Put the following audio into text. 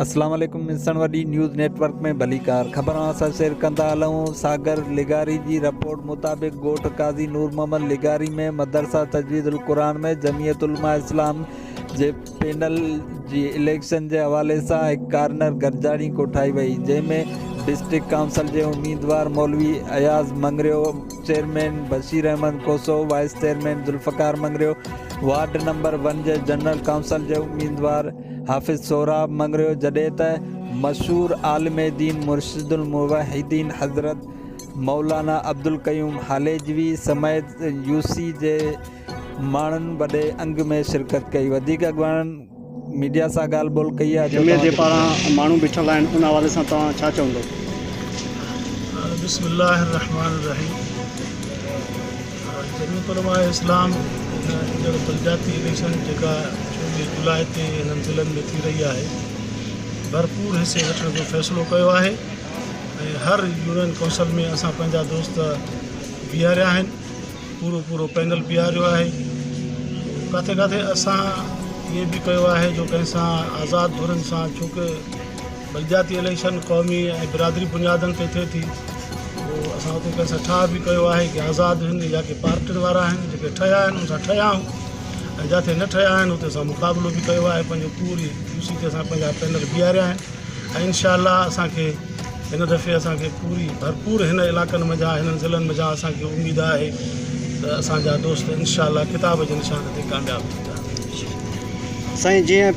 اسلام عليڪم انسان وڏي نيوز نيٽ ورڪ ۾ ڀليڪار خبران سان شيئر ڪندا هلون ساگر لغاري جي رپورٽ مطابق ڳوٺ قاضي نور محمد لغاري ۾ مدرسه تجويد القرآن ۾ جمعيت علماء اسلام جي پينل جي اليڪشن جي حوالي سان هڪ ڪارنر گڏجاڻي ڪوٺائي وئي جنهن ۾ ڊسٽرڪٽ ڪائونسل جي اميدوار مولوي Ayaz Mangrio, chairman Bashir Ahmed Khoso, vice chairman Zulfiqar Mangrio, ward number one جي جنرل ڪائونسل جي اميدوار حافظ سهراب مڱريو جڏهن ته مشهور عالم دين مرشد الموحدين حضرت مولانا عبدالقيوم هاليجوي سميت يو سي جي ماڻهن وڏي انگ ۾ شرڪت ڪئي وڌيڪ اڳواڻن ميڊيا سان ڳالهه ٻولهه ڪئي آهي جو توهان جي پاڙان ماڻهو بيٺل آهن ان حوالي سان توهان ڇا چوندو. بسم الله الرحمٰن الرحيم جميعت علماء اسلام ايندڙ بلدياتي اليڪشن جيڪا چوويهه جولاء تي هنن ضلعن ۾ ٿي رهي آهي ڀرپور حصي وٺڻ جو فيصلو ڪيو آهي ۽ هر يونين ڪونسل ۾ اسان پنهنجا دوست بيهاريا آهن پورو پورو پينل بيهاريو آهي ڪاٿي ڪاٿي اسان اهي به ڪيو آهي جو ڪنهن سان آزاد ڌرين سان ڇو ڪه بلدياتي اليڪشن قومي ۽ برادري بنيادن تي ٿئي ٿي پوء اسان اتي ڪنهن سان ٺاهه به ڪيو آهي ڪي آزاد هن يا ڪي پارٽين وارا آهن جيڪي ٺهيا آهن ان سان ٺهيا آهيون ۽ جاٿي نه ٺهيا آهن اتي اسان مقابلو به ڪيو آهي پنهنجو پوري يوسي تي اسان پنهنجا پينل بيهاريا آهن ۽ انشاء الله اسان کي هن دفعي اسان کي پوري ڀرپور هن علائقن ۾ جا هنن ضلعن ۾ جا اسان کي اميد آهي ته اسان جا دوست انشاء الله ڪتاب جي نشان تي ڪامياب ٿيندا سائين جيئن